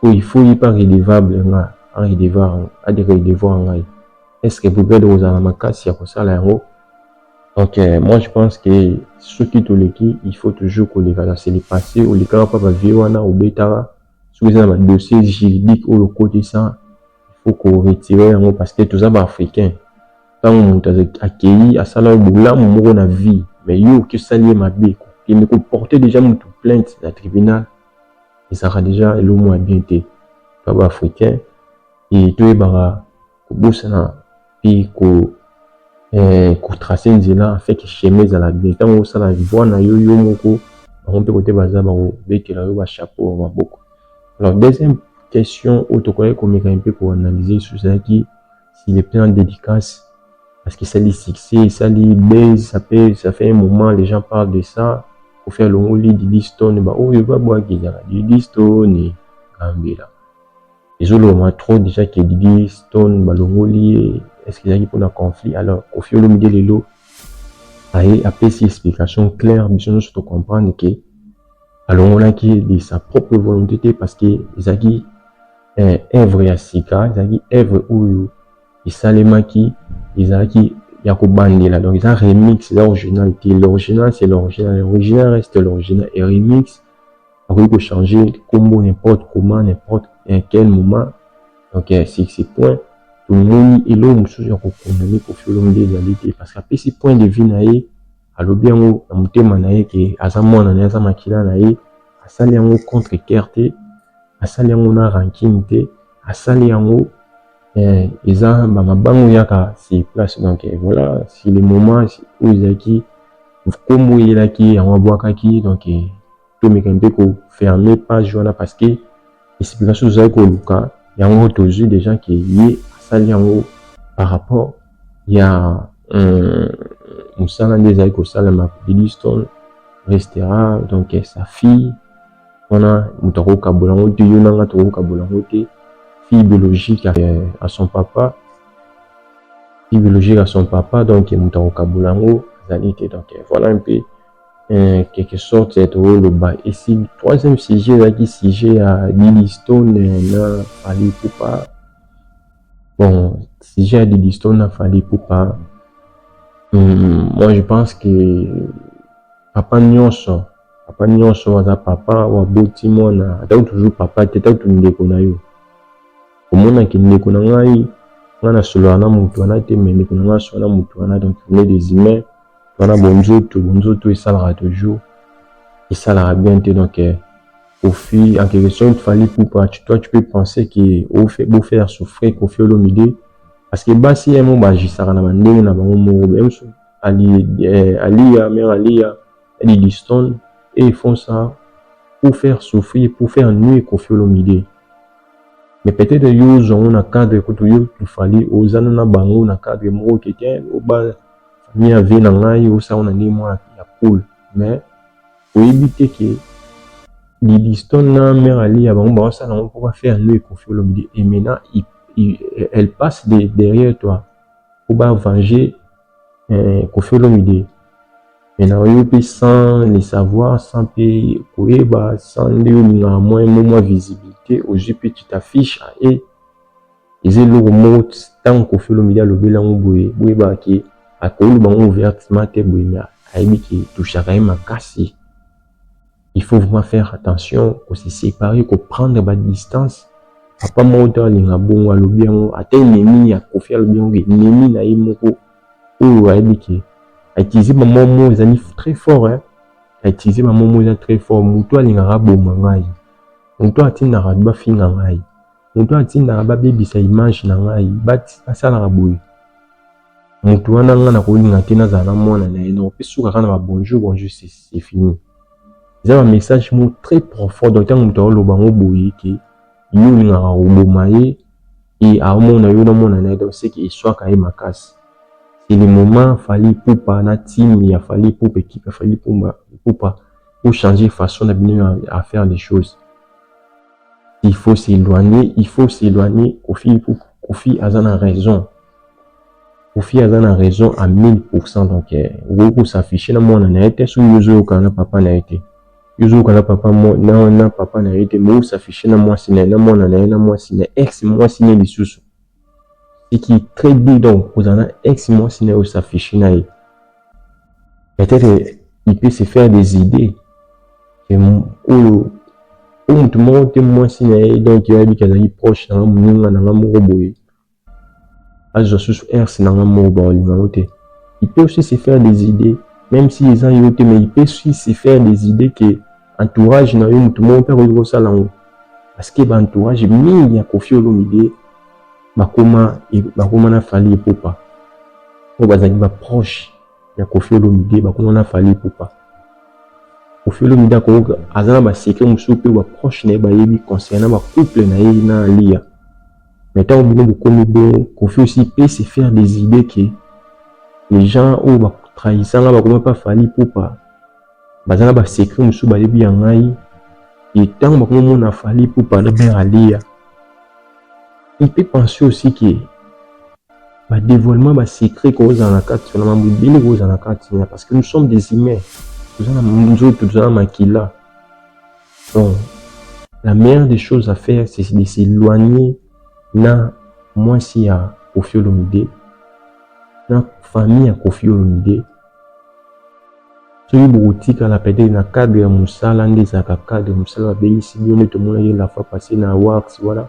Speaker 5: so il faut ye mpe redevable nga adevoir ngai est ce que brigade kozala makasi ya kosala yango donc euh, moi je pense que soki toleki il faut toujours koleka na selipase olekaka mpa bavie wana obetaka soki eza na ba dossier juridique oyo okotisa il faut ko retirer yango parce que toza ba africains tango mutu akeyi asala yo bolamu moko na vie mais yo oke osali ye mabe kokende ko porter dejà mutu plainte na tribunal ezalaka dejà eloko moko ya bien te toza ba africains et toyebaka kobosana mpe ko eh, kotrace nzela afeke chemin ezala bien ntango osala voi na yo yo moko bango mpe kote baza bakobetela yo bachapeau ya maboko alors deuxième question oyo tokoki komeka mpe koanalyse lisusu ezalaki si le plan dédicace parce que esali succès esali base ça peut ça fait un moment les gens parlent de ça kofi alongoli didistone baoyo babwaki ezala didistone gambela Ezolobama trop dejà que Didi, Stone balongoli ye, est ce que ezalaki pona conflit? Alors Koffi Olomide lelo aye apesi explication claire biso nionso to comprendre que alongolaki ye de sa propre volonte te parce que ezalaki œuvre ya sika, ezalaki œuvre oyo esalemaki ezalaki ya kobandela donc eza remix eza original te, l'original c'est l'original, l'original reste l'original et remix akoki ko changer kombo n'importe comment n'importe eh, quel moment donc eh, c'est c'est point tomoni eloko mosusu ya kokondane Koffi Olomide ezali te parce que apesi point de vue na ye alobi yango na motema na ye ke aza mwana na ye aza makila na ye asali yango contre cœur te asali yango na rancune te asali yango eh, eza bamabango yaka sur place donc eh, voilà si le moment oyo ezalaki nkombo eyelaki yango abwakaki donc eh, tomeka mpe ko fermer page wana parce que explication tozali koluka yango tozwi deja ke ye asali yango par rapport ya euh, mosala nde ezali kosalema Bidiston restera donc sa fille wana moto akokabola yango te yo nanga tokokabola yango te fille biologique à son papa fille biologique à son papa donc moto akokabola yango azali te donc voilà un peu en quelque sorte ya tokoloba esi troisième sujet ezalaki sujet ya Didistone na Fally Ipupa bon sujet ya Didistone na Fally Ipupa hmm, moi je pense que papa nyonso papa nyonso aza papa waboti mwana atako toujours papa te atako tu ndeko na yo omonaki ndeko na ngai ngai nasololaka na moto wana te mais ndeko na ngai asololaka na moto wana donc on est des humains wana bonzoto bonzoto esalaka toujours esalaka bien te donc eh, Kofi en quelque sorte Fally Ipupa tu, toi tu peux penser que ofe bo faire souffrir Kofi Olomide parce que basi ye moko bagisaka na bandenge na bango moko même so ali eh, aliya mère aliya Eddie Diston et ils font ça pour faire souffrir pour faire nuire Kofi Olomide mais peut-être yo ozwa yango na cadre kutu yo Fally ozana na bango na cadre moko kete oba Famille ya vie na ngai osa ona ndenge mwana ya cool mais oyebi te ke Didistone na mère Aliya bango baosala yango mpo ba faire nde Koffi Olomide et maintenant elle passe de derrière toi mpo ba venger eh, Koffi Olomide maintenant oyo mpe sans le savoir sans mpe koyeba sans nde olingaka mwa mwa visibilité ozwi mpe tu t'affiche et eza eloko moko ntango kofi olomide alobeli yango boye boyebaka ke akoloba yango ouvertement te boye me ayebi ke touchaka ye makasi il faut vraiment faire attention kose séparer koprendre badistance papa moko to alinga bongo alobi yango ata enemi ya kofi alobi yango enemi na ye moko oyo ayebi ke autilize bamwa mo ezali très fort hein? autilize bamwa mo eza très fort moto alingaka aboma ngai moto atindaka bafinga ngai mutu oyo atindaka babebisa image na ngai basalaka boye mutu wana ngai nakolinga te nazala na mwana na ye noko mpe suka kaka na ba bonjour bonjour c'est fini eza ba message moko très profond donc ntango moto aoloba yango boye eke yo olingaka koboma ye e aomona yo na mwana na ye donc seke eswaka ye makasi c'est le moment fali ipupa na team ya fali ipupa ekipe ya fali ipupa pour changer façon na bino ya faire les choses il faut s'éloigner il faut s'éloigner kofi kofi aza na raison kofi aza na raison à 1000% donc euh, okoki kosaffiche na mwana na ye te soki ozoyokana na papa na ye te yozoyoka na papa na, na papa na ye te mais osaffiche na mwasi na ye na mwana na ye na mwasi na ex mwasi na ye lisusu ce qui est très bien donc ozala na ex mwasi na yo osafishi na ye peut-être il peut se faire des idées que oyo o motu moko te mwasi na ye donc yo ayebi ke azali proche na nga moninga na nga moko boye azwa susu ers na nga moko baolinga ngo te il peut aussi se faire des idées même si eza yo te mais il peut aussi se faire des idées que entourage na yo motu moko mpe akoki kosala yango parce que ba entourage mingi ya Koffi Olomide bakoma bakoma na Fally Ipupa oyo bazali ba proche ya Koffi Olomide bakoma na Fally Ipupa Koffi Olomide akoyoka aza na ba secret mosusu mpe ba proche na ye bayebi concernant ba couple na ye na Aliya mais ntango bino bokomi bongo Koffi aussi peut se faire des idées que les gens oyo batrahissanga bakoma mpe Fally Ipupa baza na ba secret mosusu bayebi ya ngai et ntango bakomomona fali ipupa na mère aliya il peut penser aussi que ba dévoilement ba secret kozala na kati na mambo ebele kozala na kati na parce que nous sommes des humains toza na nzoto toza na makila donc la meilleure des choses à faire c'est de s'éloigner na mwasi ya kofi olomide na famille ya kofi olomide soki bokotikala peut-être na cadre ya mosala nde ezalaka cadre mosala babengisi bino nde tomonaki la fois passé na awards wana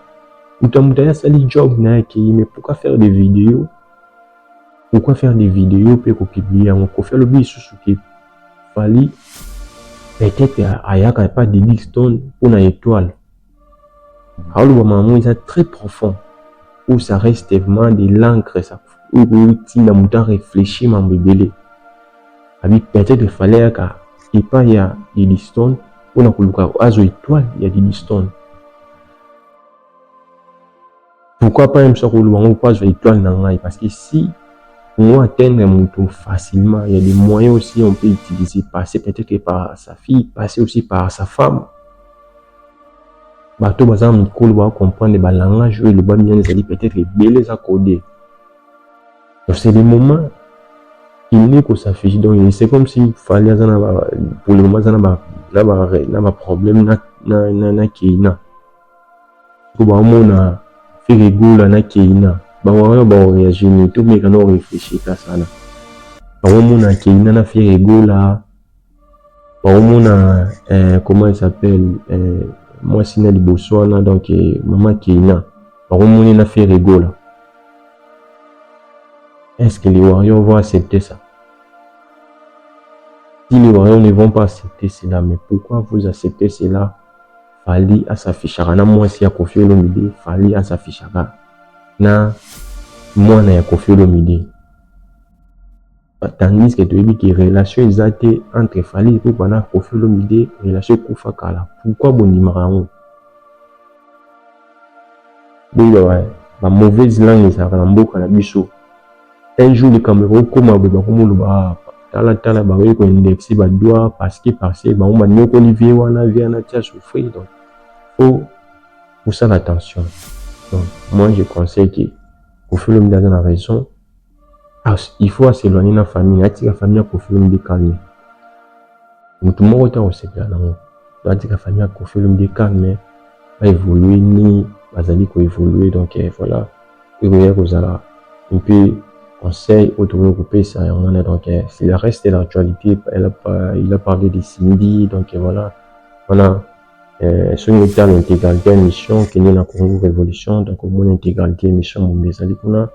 Speaker 5: moto ya moto aye asali job na ye akei mais pourquoi faire des videos pourquoi faire des videos mpe kopublie yango kofi alobi lisusu ke fali peut-être ayaka epa didixton mpo na étoile aoloba mamu eza très profond ou ça reste vraiment de l'encre ça oyo ekotinda moto areflechir mambo ebele abi peut-être fallait yaka epai ya didistone mpona koluka azwa etoile ya didistone Pourquoi pas yemso akoloba ngo mpo azwa étoile na ngai parce que si on atteindre moto facilement il y a des moyens aussi on peut utiliser passer peut-être par sa fille passer aussi par sa femme bato baza na mikolo ba comprendre ba langage oyo elobami wana ezali peut-être ebele eza code donc c'est le moment il n'est ko s'afficher donc c'est comme si fali aza na pour le moment aza na ba na ba na ba problème na na na, na keina Sikoyo bamona Ferre Gola na Keyna, bango wana bao reagir nini? To meka na o reflechir ata sana. Bakomona Keyna na Ferre Gola, bakomona eh, comment il s'appelle eh, mwasi na liboso wana donc eh, mama Keyna, bakomoni na Ferre Gola. Est-ce que les Warriors vont accepter ça? Si les Warriors ne vont pas accepter cela, mais pourquoi vous acceptez cela? Fally a s'affichaka na mwasi ya Koffi Olomide, Fally a s'affichaka na mwana ya Koffi Olomide. Tandis que toyebi que relation eza te entre Fally Ipupa na Koffi Olomide, relation ekufa kala. Pourquoi bondimaka yango? Boyeba ba, ba mauvaises langues ezalaka na mboka na biso. Un jour likambo ekokoma boye bakomoloba ah tala tala baye ko indexe ba doigts parce que parce que bango banyokoli vie wana vie wana tia souffrir donc faut kosala attention donc moi je conseille que Koffi Olomide aza na raison Il faut a s'eloigner na famille, atika famille ya Koffi Olomide calme. Mutu moko te akosepela nango. Donc atika famille ya Koffi Olomide calme, ba évoluer ni bazali ko évoluer donc eh, voilà. Ekoya kozala un peu conseil oyo tokoki kopesa yango wana donc eh, c'est le reste de l'actualité. Il a parlé de Cindy donc eh, voilà. Wana eh, soki otala intégralité ya mission kende na Congo Révolution donc omona intégralité ya mission mumbi ezali kuna.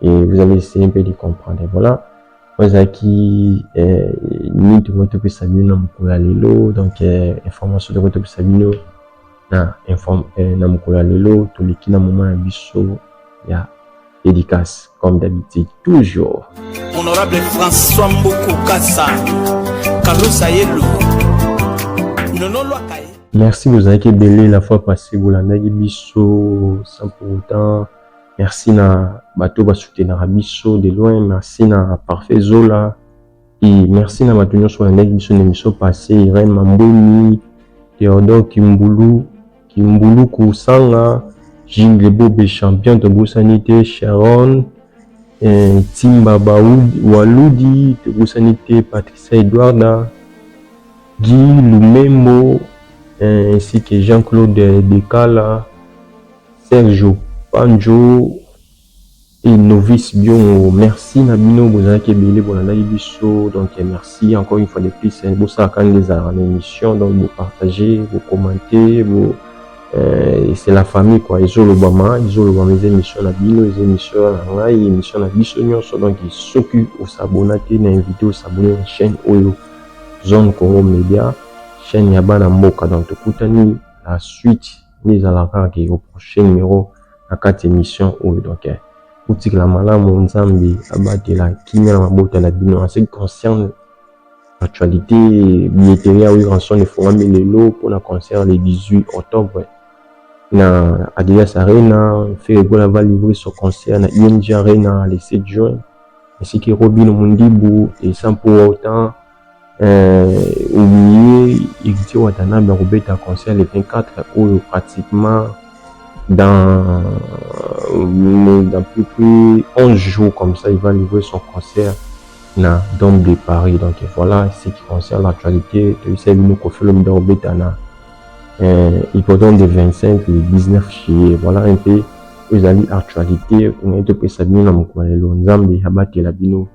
Speaker 5: et vous allez essayer un peu de comprendre voilà oyo ezalaki euh, nini tokoki topesa bino na mokolo ya lelo donc euh, information tokoki topesa bino na, inform, euh, na mokolo ya lelo toleki na moma na biso ya dédicace comme d'habitude toujours honorable
Speaker 6: françois mboko kasa kalosa yelo nololwaka ye merci bozalaki
Speaker 5: ebele la fois passé bolandaki biso sans pour autant Merci na bato ba soutenaka biso de loin, merci na Parfait Zola et merci na bato nionso balandaki biso na emission passe, Irene Mambweni, Theodore Kimbulu, Kimbulu Kursanga, Jingle Bobe Champion tobosani te, Sharon, eh, Timba Baudi, Waludi tobosani te, Patricia Edwarda, Guy Lumembo eh, ainsi que Jean-Claude Dekala, Sergio panjo et novice biongo merci na bino bozalaki ebele bolandaki biso donc merci encore une fois de plus hein, bosalaka nde ezalaka na émission donc bo partager bo commenter bo euh, c'est la famille quoi ezolobama ezolobama eza émission na bino eza émission na ngai émission na biso nyonso donc soki osabona te na invité osabone na chaîne oyo zone congo média chaîne ya bana mboka donc tokutani la suite nde ezalaka kaka ke ko proche numero na kati ya emission oyo donc eh botikala malamu nzambe abatela kimia na mabota na bino en ce qui concerne actualite billetterie ya Werrason efungami lelo pona concert le 18 octobre na Adidas Arena Ferre Gola va livrer son concert na ING Arena le 7 juin ainsi que Robin Mundibu et Sampo Wautan Eh oublier Heritier Watanabe akobeta concert le 24 oyo pratiquement dans dans plus plus 11 jours comme ça il va livrer son concert na Dome de Paris donc voilà ce qui concerne l'actualité toyebisa bino Koffi Olomide akobeta na eh, hippodrome de 25 le 19 juillet voilà un peu oyo ezali actualité oyo topesa bino na mokolo ya lelo Nzambe abatela bino